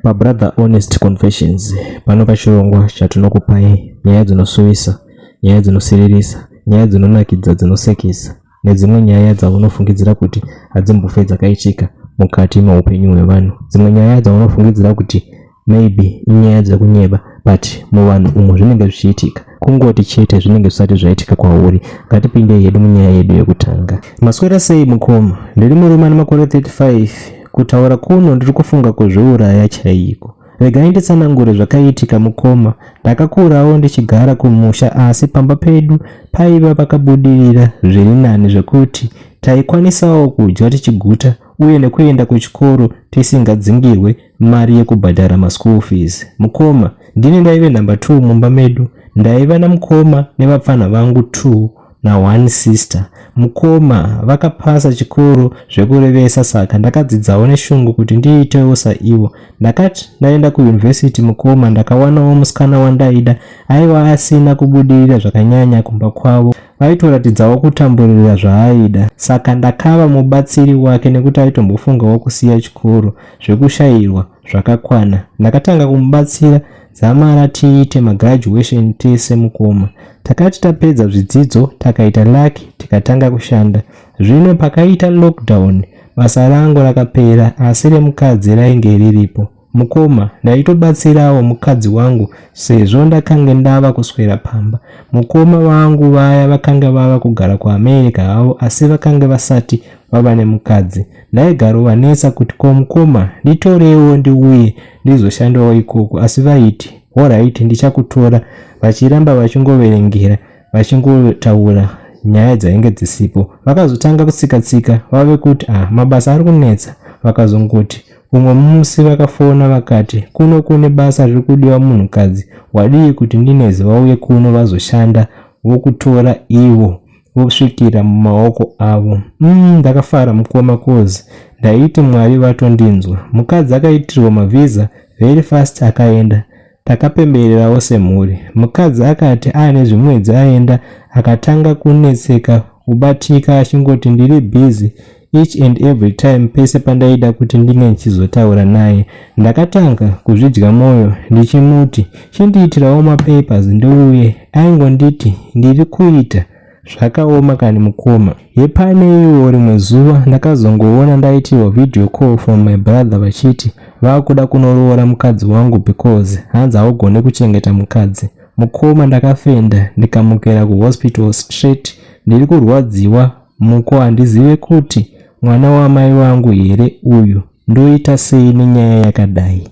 pabrother honest confessions pano pachirongwa chatinokupai nyaya dzinosuwisa nyaya dzinosiririsa nyaya dzinonakidza dzinosekesa nedzimwe nyaya dzaunofungidzira kuti hadzimbofe dzakaitika mukati meupenyu hwevanhu dzimwe nyaya dzaunofungidzira kuti Maybe inyaya dzekunyeba but muvanhu umu zvinenge zvichiitika kungoti chete zvinenge zvisati zvaitika kwauri ngatipindei hedu munyaya yedu yekutanga maswera sei mukoma ndiri murume ane makore 35 kutaura kuno ndiri kufunga kuzviuraya chaiko regai nditsanangure zvakaitika mukoma ndakakurawo ndichigara kumusha asi pamba pedu paiva pakabudirira zviri nani zvekuti taikwanisawo kudya tichiguta uye nekuenda kuchikoro tisingadzingirwe mari yekubhadhara maschool fees mukoma ndini ndaive number two mumba medu ndaiva namukoma nevapfanha vangu two na one sister mukoma vakapasa chikoro zvekurevesa saka ndakadzidzawo neshungu kuti ndiitewo saivo ndakati ndaenda kuyunivhesiti mukoma ndakawanawo musikana wandaida aiva asina kubudirira zvakanyanya kumba kwavo vaitoratidzawo kutamburirira zvaaida saka ndakava mubatsiri wake nekuti aitombofungawo kusiya chikoro zvekushairwa zvakakwana. Ndakatanga kumubatsira dzamara tiite magraduation tese mukoma. Takati tapedza zvidzidzo takaita luck tikatanga kushanda. Zvino pakaita lockdown basa rangu rakapera asi remukadzi rainge riripo. Mukoma, ndaitobatsirawo mukadzi wangu sezvo ndakange ndava kuswera pamba. Mukoma vangu vaya vakanga vava kugara kuAmerica havo asi vakange vasati vava nemukadzi. Ndaigarovanetsa kuti ko mukoma nditorewo ndiuye ndizoshandawo ikoko asi vaiti horaiti ndichakutora vachiramba vachingoverengera vachingotaura nyaya dzainge dzisipo. Vakazotanga kutsikatsika vave kuti ah mabasa ari kunetsa vakazongoti umwe musi vakafona vakati kuno kune basa riri kudiwa munhukadzi wadii kuti ndinezi vauye kuno vazoshanda vokutora ivo vosvikira mumaoko avo mm, ndakafara mukoma cause ndaiti mwari vatondinzwa mukadzi akaitirwa mavhiza very fast akaenda takapembererawo semhuri mukadzi akati aane zvimwedzi aenda akatanga kunetseka kubatika achingoti ndiri busy each and every time pese pandaida kuti ndinge ndichizotaura naye ndakatanga kuzvidya mwoyo ndichimuti chindiitirawo mapapers ndiuye aingonditi ndiri kuita zvakaoma kani mukoma yepane iwo rimwe zuva ndakazongoona ndaitirwa video call from my brother vachiti vakuda kunoroora mukadzi wangu because hanzi haugone kuchengeta mukadzi mukoma ndakafenda ndikamukira kuhospital straight ndiri kurwadziwa Muko handizive kuti mwana wamai vangu here uyu ndoita sei nenyaya yakadai.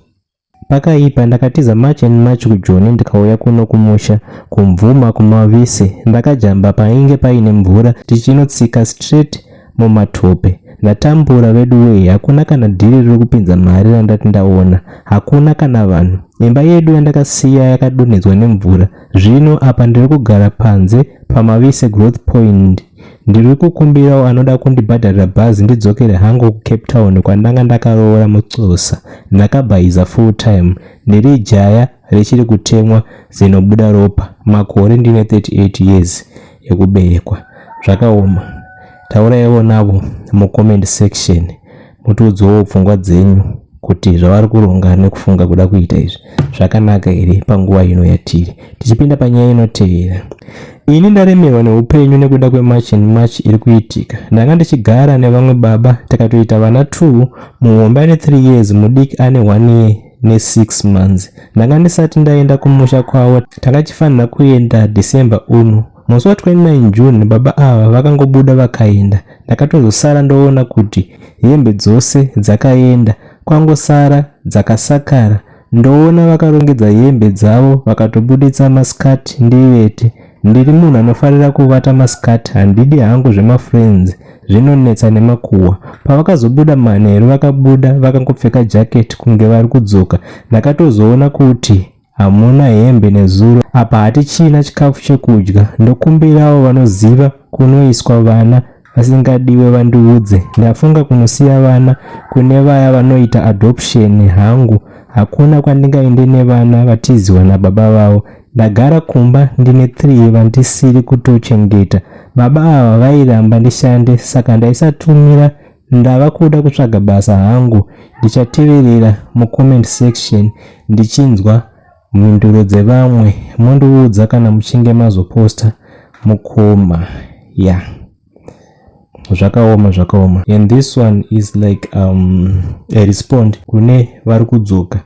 Pakaipa ndakatiza march and march kujoni ndikauya kuno kumusha kumvuma kumavise ndakajamba painge paine mvura tichinotsika straight mumatope ndatambura vedu wee hakuna kana dhiri riri kupinza mari randati ndaona hakuna kana vanhu imba yedu yandakasiya yakadonhedzwa nemvura Zvino apa ndiri kugara panze paMavise Growth Point. Ndiri kukumbirawo anoda kundibhadharira bhazi ndidzokere hangu kuCape Town kwandanga ndakaroora mucosa. Ndakabhaiza full time. Ndiri jaya richiri kutemwa zinobuda ropa. Makore ndine 38 years ekuberekwa. Zvakaoma. Tauraiwo navo mucomment section. Motiudzawo pfungwa dzenyu kuti zvavari kuronga nekufunga kuda kuita izvi zvakanaka here panguva ino yatiri tichipinda panyaya inotevera ini ndaremerwa neupenyu nekuda kwemarch and march iri kuitika ndanga ndichigara nevamwe baba takatoita vana two muhombe ane three years mudiki ane one year nesix months ndanga ndisati ndaenda kumusha kwavo takachifanira kuenda december uno Musi wa 29 June baba ava vakangobuda vakaenda. Ndakatozosara ndoona kuti hembe dzose dzakaenda kwangosara dzakasakara. Ndoona vakarongedza hembe dzavo vakatobuditsa maskirt ndivete. Ndiri munhu anofarira kuvata maskirt handidi hangu zvemafriends zvinonetsa nemakuhwa. Pavakazobuda manheru vakabuda vakangopfeka jacket kunge vari kudzoka. Ndakatozoona kuti hamuna hembe nezuro apa hatichina chikafu chekudya ndokumbirawo vanoziva kunoiswa vana vasingadiwe vandiudze ndafunga kunosiya vana kune vaya vanoita adoption hangu hakuna kwandingaende nevana vatiziwa nababa vavo ndagara kumba ndine three vandisiri kutochengeta baba ava vairamba ndishande saka ndaisatumira Ndava kuda kutsvaga basa hangu. Ndichateverera mucomment section ndichinzwa mhinduro dzevamwe mondiudza kana muchinge mazoposta mukoma ya yeah. zvakaoma zvakaoma and this one is like um, a respond kune vari kudzoka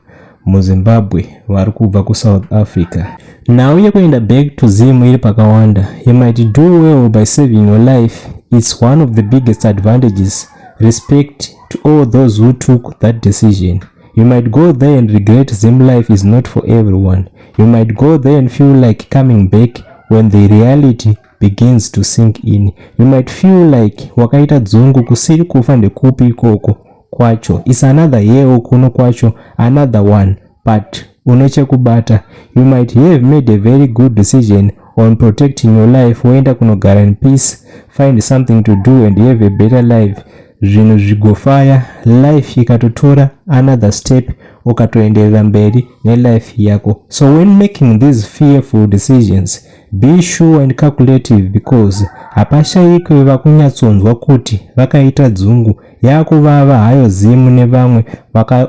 muzimbabwe vari kubva kusouth africa nhau yekuenda back to zim iri pakawanda you might do well by saving your life its one of the biggest advantages respect to all those who took that decision you might go there and regret zim life is not for everyone you might go there and feel like coming back when the reality begins to sink in you might feel like wakaita dzungu kusiri kufa ndekupi ikoko kwacho is another year kuno kwacho another one but une chekubata you might have made a very good decision on protecting your life woenda kunogara in peace find something to do and have a better life zvinhu zvigofaya life ikatotora another step ukatoenderera mberi nelife yako so when making these fearful decisions be sure and calculative because hapashayikwe vakunyatsonzwa kuti vakaita dzungu Yakuvava hayo Zim nevamwe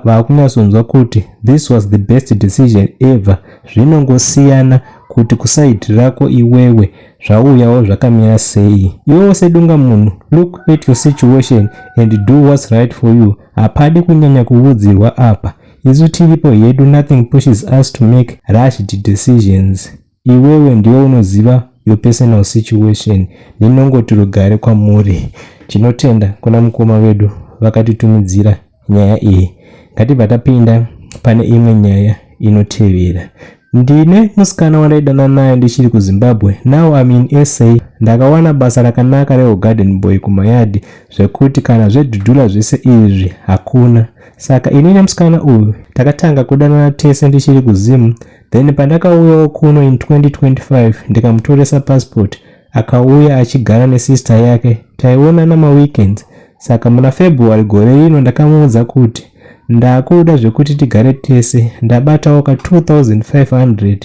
vakunyatsonzwa kuti this was the best decision ever. Zvinongosiyana kuti kuside rako iwewe zvauyawo zvakamira sei. Iwewo sedunga munhu look at your situation and do what's right for you. Hapadi kunyanya kuvudzirwa apa. Isu tiripo hedu nothing pushes us to make rushed decisions. Iwewe ndiwe unoziva your personal situation ndinongoti rugare kwamuri tinotenda kuna mukoma vedu vakatitumidzira nyaya iyi ngatibva tapinda pane imwe nyaya inotevera ndine musikana wandaidana naye ndichiri kuzimbabwe now am in sa ndakawana basa rakanaka rehugarden boy kumayadi zvekuti kana zvedhudhula zvese izvi hakuna saka ini nemusikana uyu takatanga kudanana tese ndichiri kuzimu then pandakauyawo kuno in 2025 ndikamutoresa passport akauya achigara nesister yake taionana maweekends saka muna february gore rino ndakamuudza kuti ndakuda zvekuti tigare tese ndabatawo ka 2500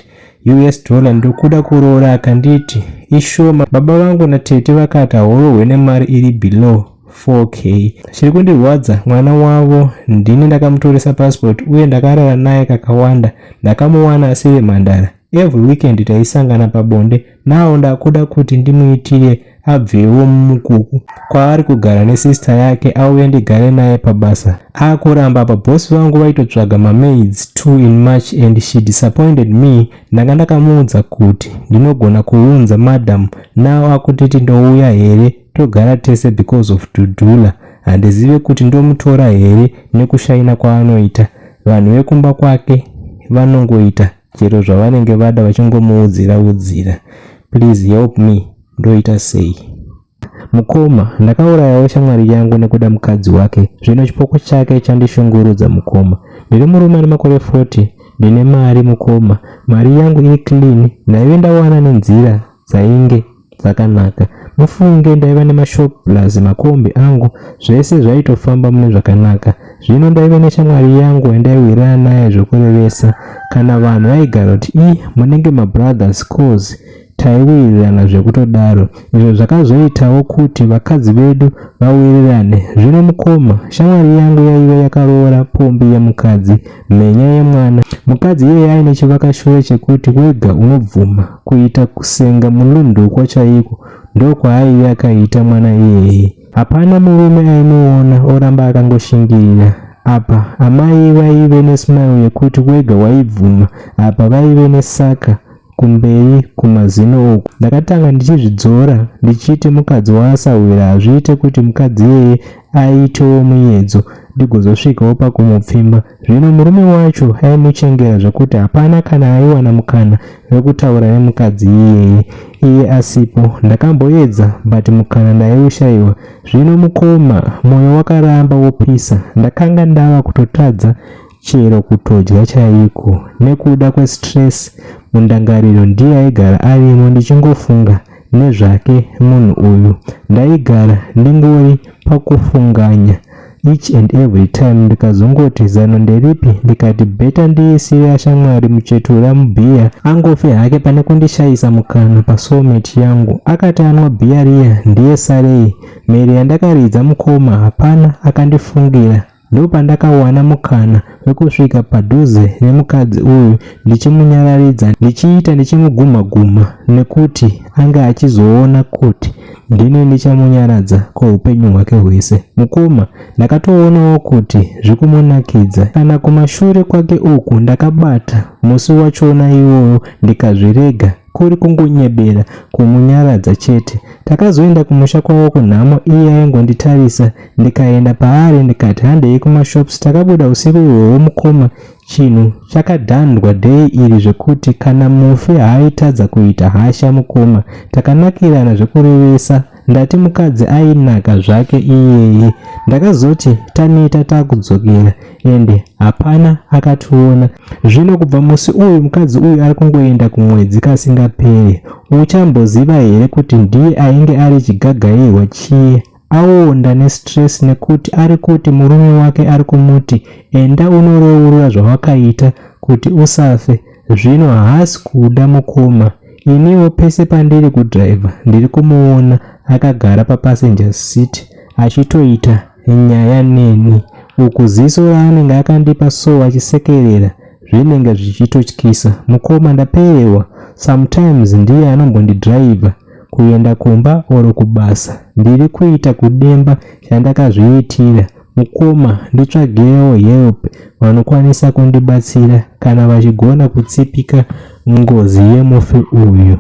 us dollar ndokuda kuroora akanditi ishoma baba vangu natete vakati haurohwe nemari iri below 4k chiri kundirwadza mwana wavo ndini ndakamutoresa passport uye ndakarara naye kakawanda ndakamuwana asiri mhandara every weekend taisangana pabonde nawo ndakuda kuti ndimuitire abvewo mumukuku kwaari kugara nesista yake auye ndigare naye pabasa akuramba apa bosi vangu vaitotsvaga mamaids t in march and she disappointed me ndanga ndakamuudza kuti ndinogona kuunza madam nawo akutiti ndouya here togara tese because of dudula handizive kuti ndomutora here nekushaina kwaanoita vanhu vekumba kwake vanongoita chero zvavanenge vada vachingomuudzira udzira please help me ndoita sei mukoma ndakaurayawo shamwari yangu nekuda mukadzi wake zvino chipoko chake chandishungurudza mukoma ndiri murume ane makore 40 ndine mari mukoma mari yangu iri clean ndaive ndawana nenzira dzainge zvakanaka mufunge ndaiva nemashop plus makombi angu zvese zvaitofamba mune zvakanaka zvino ndaiva neshamwari yangu yandaiwirana naye zvokurevesa kana vanhu vaigara kuti i munenge mabrothers cause taiwirirana zvekutodaro izvo zvakazoitawo kuti vakadzi vedu vawirirane zvino mukoma shamwari yangu yaiva yakaroora pombi yemukadzi Mhenya yemwana. Mukadzi iyeye aine chivakashure chekuti wega unobvuma kuita kusenga mulundukwa chaiko ndokwaaive akaita mwana iyeye. Hapana murume aimuona oramba akangoshingirira. Apa amai vaive nesmile yekuti wega waibvuma apa vaive nesaka kumberi kumazino uku. Ndakatanga ndichizvidzora ndichiti mukadzi waasahwira hazviite kuti mukadzi iyeye aitewo muyedzo ndigozosvikawo pakumupfimba. Zvino murume wacho aimuchengera zvekuti hapana kana aiwana mukana wekutaura nemukadzi iyeye iye asipo. Ndakamboedza but mukana ndaiushaiwa. Zvino mukoma, moyo wakaramba wopisa. Ndakanga ndava kutotadza chero kutodya chaiko nekuda kwestress mundangariro ndiye aigara arimo ndichingofunga nezvake munhu uyu ndaigara ndingori pakufunganya each and every time ndikazongoti zano nderipi ndikati beta ndiisire ashamwari muchetura mubhiya angofe hake pane kundishayisa mukana pasoulmate yangu akati anwa bhiya riya ndiye sarei mhere yandakaridza mukoma hapana akandifungira Ndopandakawana mukana wekusvika padhuze nemukadzi uyu ndichimunyararidza ndichiita ndichimugumha gumha nekuti ange achizoona kuti ndini ndichamunyaradza kweupenyu hwake hwese. Mukoma ndakatoonawo kuti zvikumunakidza. Kana kumashure kwake uku ndakabata musi wachona iwoyo ndikazvirega. kuri kungonyebera kumunyaradza chete takazoenda kumusha kwavo kunhamo iye aingonditarisa ndikaenda paari ndikati handei kumashops takabuda usiku ihwohwo mukoma chinhu chakadhandwa dhei iri zvekuti kana mufi haaitadza kuita hasha mukoma takanakirana zvekurevesa Ndati mukadzi ainaka zvake iyeye. Ndakazoti taneta takudzokera ende hapana akationa. Zvino kubva musi uyu mukadzi uyu ari kungoenda kumwedzi kasingapere. Uchamboziva here kuti ndiye ainge ari chigagairwa chiye aonda nestress nekuti ari kuti murume wake ari kumuti enda unorourura zvawakaita kuti usafe zvino haasi kuda mukoma Iniwo pese pandiri kudriver ndiri kumuona akagara papassenger seat achitoita nyaya neni uku ziso raanenge akandipa so achisekerera zvinenge zvichitotyisa. Mukoma ndapererwa, sometimes ndiye anombondidriver kuenda kumba or kubasa. Ndiri kuita kudemba chandakazviitira. Mukoma nditsvagewo help vanokwanisa kundibatsira kana vachigona kutsipika ngozi yemufi uyu.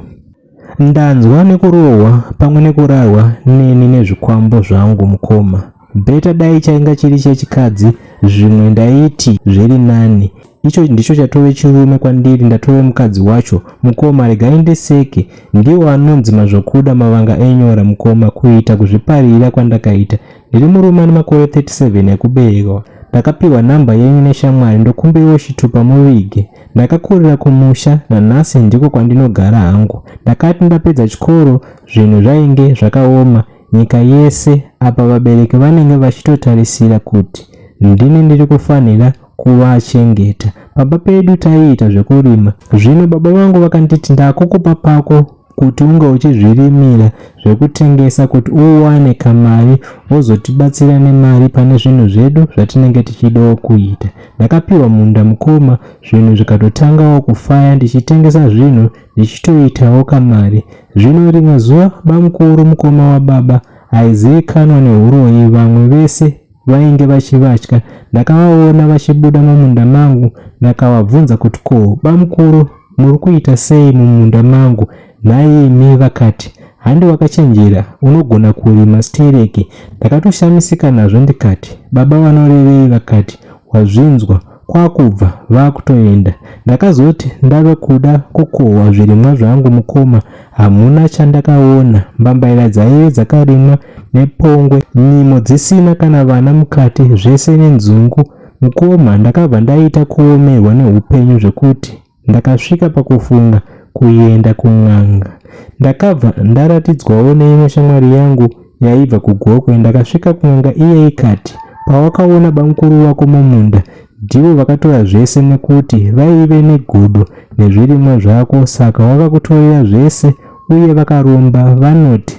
Ndanzwa nekurohwa pamwe nekurarwa neni nezvikwambo zvangu mukoma. Beta dai chainga chiri chechikadzi zvimwe ndaiti zviri nani. Icho ndicho chatove chirume kwandiri ndatove mukadzi wacho. Mukoma regai ndiseke. Ndiwo anonzi mazvokuda mavanga enyora mukoma kuita kuzviparira kwandakaita. Ndiri murume ane makore 37 ekuberekwa. Ndakapiwa nhamba yenyu neshamwari ndokumbiriwo chitupa muvige. Ndakakurira kumusha nanhasi ndiko kwandinogara hangu. Ndakati ndapedza chikoro zvinhu zvainge zvakaoma nyika yese apa vabereki vanenge vachitotarisira kuti ndini ndiri kufanira kuvachengeta. Pamba pedu taiita zvekurima. Zvino baba vangu vakanditi ndakukupa pako kuti unge uchizvirimira zvekutengesa kuti uwane kamari wozotibatsira nemari pane zvinhu zvedu zvatinenge tichidawo kuita ndakapiwa munda mukoma zvinhu zvikatotangawo kufaya ndichitengesa zvinhu ndichitoitawo kamari zvino rimwe zuva bamukuru mukoma wababa aizivikanwa neuroyi vamwe vese vainge vachivatya. Ndakavaona vachibuda mumunda mangu ndakavabvunza kuti ko bamukuru muri kuita sei mumunda mangu nhai imi vakati handi wakachenjera unogona kurima stereki. Ndakatoshamisika nazvo ndikati baba vanorevei vakati wazvinzwa kwakubva vakutoenda ndakazoti ndave kuda kukohwa zvirimwa zvangu mukoma hamuna chandakaona mbambaira dzaive dzakarimwa nepongwe nyimo dzisina kana vana mukati zvese nenzungu mukoma ndakabva ndaita kuomerwa neupenyu zvekuti Ndakasvika pakufunga kuenda kun'anga. Ndakabva ndaratidzwawo neimwe shamwari yangu yaibva kuGokwe ndakasvika kun'anga iye ikati pawakaona bamukuru wako mumunda ndivo vakatora zvese nekuti vaive negodo nezvirimwa zvako saka wakakutorera zvese uye vakaromba vanoti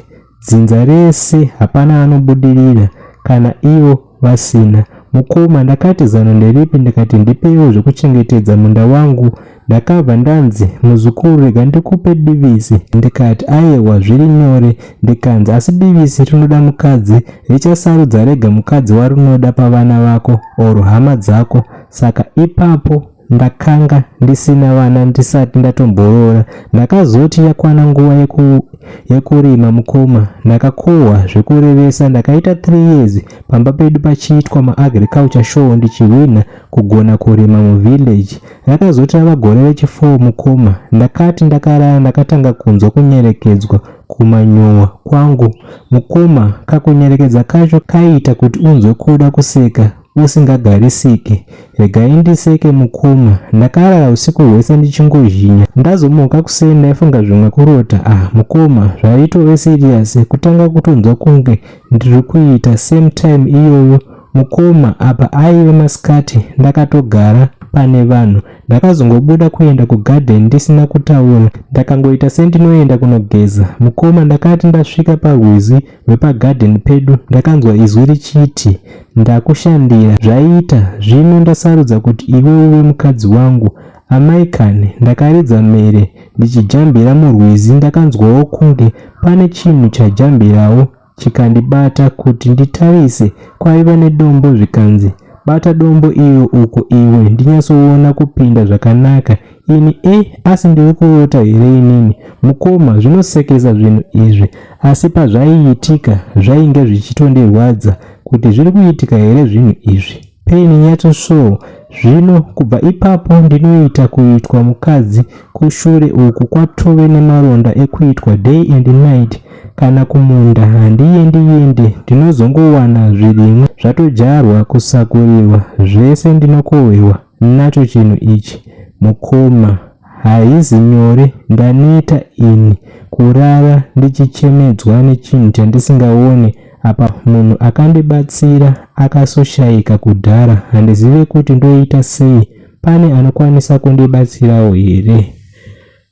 Dzinza rese hapana anobudirira kana ivo vasina. Mukoma ndakati zano nderipi ndikati ndipeiwo zvekuchengetedza munda wangu ndakabva ndanzi muzukuru rega ndikupe divisi ndikati ayewa zviri nyore ndikanzi asi divisi rinoda mukadzi richasarudza rega mukadzi warinoda pavana vako or hama dzako saka ipapo Ndakanga ndisina vana ndisati ndatomboroora. Ndakazoti yakwana nguva yeku, yekurima mukoma ndakakohwa zvekurevesa ndakaita 3 years pamba pedu pachiitwa maagriculture show ndichihwinha kugona kurima muvillage. Rakazoti rava gore rechi4 mukoma ndakati ndakarara ndakatanga kunzwa kunyerekedzwa kumanyowa kwangu. Mukoma kakunyerekedza kacho kaiita kuti unzwe kuda kuseka usingagarisike regai ndiseke mukoma ndakarara usiku hwese ndichingozhinya ndazomuka kuseni ndaifunga zvimwe kurota ah mukoma zvaitove serious kutanga kutonzwa kunge ndiri kuita same time iyoyo mukoma apa aive masikati ndakatogara pane vanhu ndakazongobuda kuenda kugarden ndisina kutaura ndakangoita sendinoenda kunogeza mukoma ndakati ndasvika parwizi hwepagadheni pedu ndakanzwa izwi richiti ndakushandira zvaiita zvino ndasarudza kuti iwe uve mukadzi wangu amai kani ndakaridza mhere ndichijambira murwizi ndakanzwawo kunge pane chinhu chajambirawo chikandibata kuti nditarise kwaiva nedombo zvikanzi bata dombo iro uko iwe ndinyatsoona kupinda zvakanaka Ini e asi ndiri kurota here inini mukoma zvinosekesa zvinhu izvi asi pazvaiitika zvainge zvichitondirwadza kuti zviri kuitika here zvinhu izvi pain yacho so zvino kubva ipapo ndinoita kuitwa mukadzi kushure uku kwatove nemaronda ekuitwa day and night kana kumunda handiyendi yendi ndinozongowana zvirimwa zvatodyarwa kusakurirwa zvese ndinokohwewa nacho chinhu ichi mukoma haizi nyore ndaneta ini kurara ndichichemedzwa nechinhu chandisingaone apa munhu akandibatsira akasoshaika kudhara handizive kuti ndoita sei pane anokwanisa kundibatsirawo here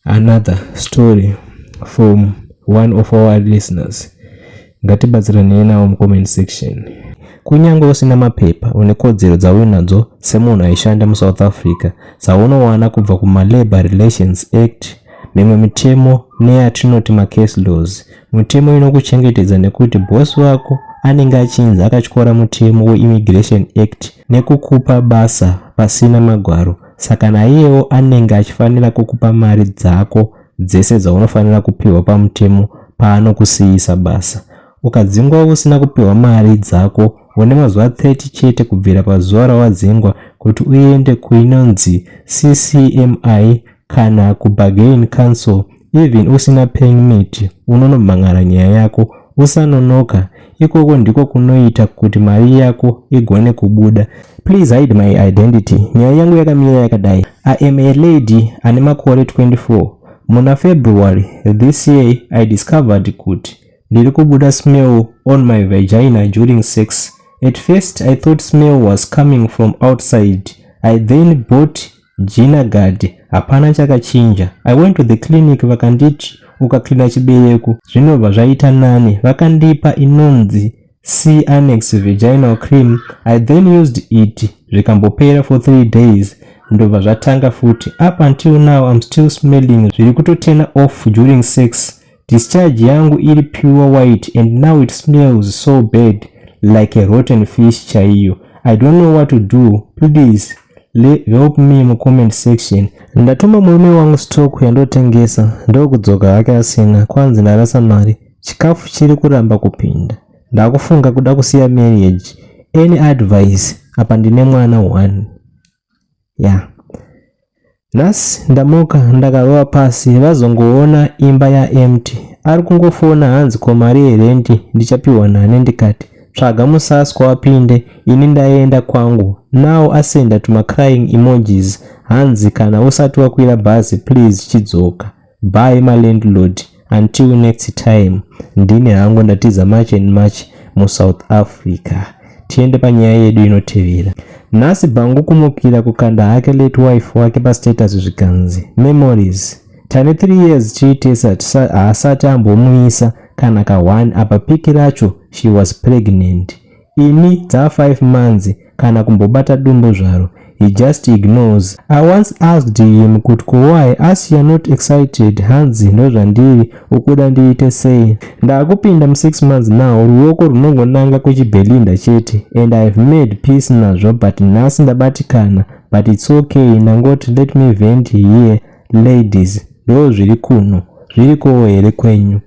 another story from one of our listeners ngatibatsiranei nawo mucomment section kunyange usina mapepa une kodzero dzauinadzo semunhu aishanda musouth africa dzaunowana kubva kumalabour relations act mimwe mitemo neyatinoti macase laws mitemo inokuchengetedza nekuti bosi wako anenge achinzi akatyora mutemo weimmigration act nekukupa basa pasina magwaro saka naiyewo anenge achifanira kukupa mari dzako dzese dzaunofanira kupiwa pamutemo paanokusiyisa basa ukadzingwa usina kupiwa mari dzako une mazuva 30 chete kubvira pazuva rawadzingwa kuti uende kuinonzi ccmi kana kubargain council Even usina permit unonobhangara nyaya yako usanonoka ikoko ndiko kunoita kuti mari yako igone kubuda please hide my identity nyaya yangu yakamira yakadai i am a lady ane makore 24 muna february this year i discovered kuti ndiri kubuda smell on my vagina during sex at first i thought smell was coming from outside i then bought Jina Gadi, hapana chakachinja. I went to the clinic vakanditi ukaklina chibereko zvinobva zvaita nani. Vakandipa inonzi C annex vaginal cream. I then used it zvikambopera for three days ndobva zvatanga futi. Up until now I'm still smelling zviri kutotena off during sex Discharge yangu iri pure white and now it smells so bad like a rotten fish chaiyo. I don't know what to do. Please help me mu comment section. Ndatuma murume wangu stock yandotengesa ndokudzoka hake asina kwanzi ndarasa mari. Chikafu chiri kuramba kupinda. Ndakufunga kuda kusiya marriage. Any advice? Apa ndine mwana one. yeah nhasi ndamuka ndakarova pasi vazongoona imba yaempty ari kungofona hanzi ko mari yerendi ndichapiwa nani ndikati tsvaga musaswa wapinde ini ndaenda kwangu now asenda tumacrying emojis hanzi kana usati wakwira bhazi please chidzoka Bye ma landlord until next time ndini hangu ndatiza march and march mu south africa tiende panyaya yedu inotevera nhasi bhangu kumukira kukanda hake late wife wake pastatus zvikanzi memories tane 3 years tiitesa haasati ambomuisa kana ka one apa piki racho she was pregnant Ini dzaa five months kana kumbobata dumbu zvaro he just ignores. I once asked him kut ko why asi you're not excited hanzi ndozvandiri ukuda ndiite sei. Ndakupinda mu six months now ruoko runongonanga kuchibelinda chete and I have made peace nazvo but nhasi ndabatikana but it's ok ndangoti let me vent here ladies ndoo zviri kuno. Zvirikowo here kwenyu?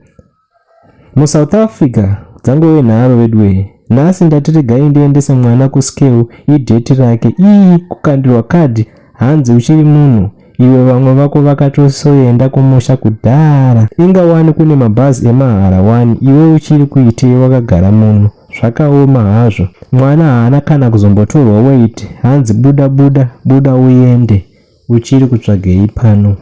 musouth africa dzangove nharo veduwee nhasi ndati regai ndiendese mwana kuscale idheti rake ii kukandirwa kadhi hanzi uchiri munhu iwe vamwe vako vakatosoenda kumusha kudhara inga wani kune mabhazi emahara wani iwe uchiri kuitei wakagara muno zvakaoma hazvo mwana haana kana kuzombotorwa wait hanzi buda buda buda uende Uchiri kutsvagei pano?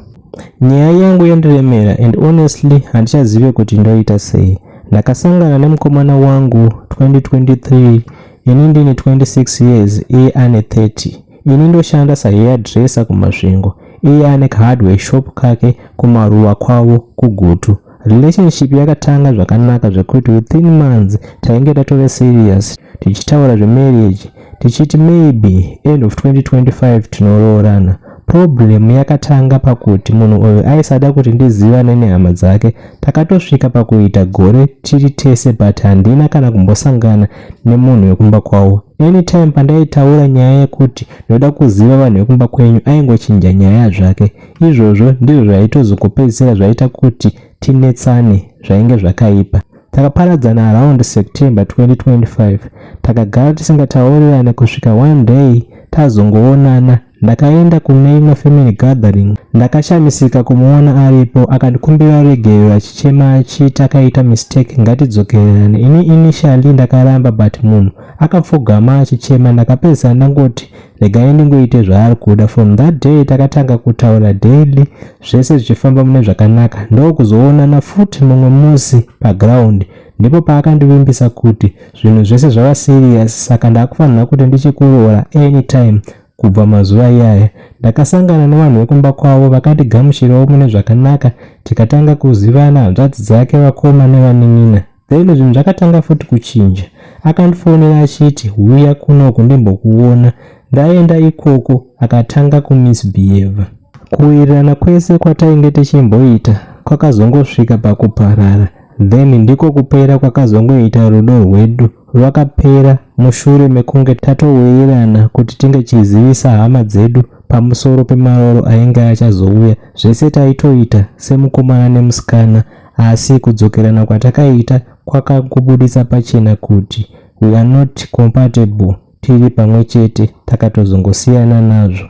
Nyaya yangu yandiremera and honestly handichazive kuti ndoita sei. Ndakasangana nemukomana wangu 2023 ini ndine 26 years iye ane 30. Ini ndoshanda sahairdresser kuMasvingo iye ane kahardware shop kake kumaruwa kwavo kuGutu. Relationship yakatanga zvakanaka zvekuti within months tainge tatove serious tichitaura zvemarriage tichiti maybe end of 2025 tinoroorana. Problem yakatanga pakuti munhu uyu aisada kuti ndizivane nehama dzake. Takatosvika pakuita gore tiri tese but handina kana kumbosangana nemunhu wekumba kwavo. Anytime pandaitaura nyaya yekuti ndoda kuziva vanhu vekumba kwenyu aingochinja nyaya zvake. Izvozvo ndizvo zvaitozokupedzisira zvaita kuti tinetsane zvainge zvakaipa. Takaparadzana around September 2025 takagara tisingataurirane kusvika one day tazongoonana ndakaenda kune imwe family gathering ndakashamisika kumuona aripo akandikumbira ruregerero achichema achiti akaita mistake ngatidzokererane ini initially ndakaramba but munhu akapfugama achichema ndakapedzisa ndangoti regai ndingoite zvaari kuda from that day takatanga kutaura daily zvese zvichifamba mune zvakanaka ndokuzoonana futi mumwe musi paground ndipo paakandivimbisa kuti zvinhu zvese zvava serious saka ndakufanira kuti ndichikuroora anytime kubva mazuva iyaya ndakasangana nevanhu vekumba kwavo vakandigamuchirawo mune zvakanaka tikatanga kuzivana hanzvadzi dzake vakoma nevanin'ina Daily zvinhu zvakatanga futi kuchinja. Akandifonera achiti huya kunoku ndimbokuona. Ndaenda ikoko akatanga kumisbehave. Kuwirirana kwese kwatainge tichimboita kwakazongosvika pakuparara then ndiko kupera kwakazongoita rudo rwedu rwakapera mushure mekunge tatowirirana kuti tinge chizivisa hama dzedu pamusoro pemaoro ainge achazouya zvese taitoita semukomana nemusikana Asi kudzokerana kwatakaita kwakangobuditsa pachena kuti we are not compatible tiri pamwe chete takatozongosiyana nazvo.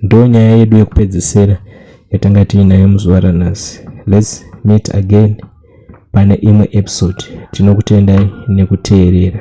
Ndo nyaya yedu yekupedzisira yatanga tiinayo muzuva ranhasi. Let's meet again pane imwe episode. Tinokutendai nekuteerera.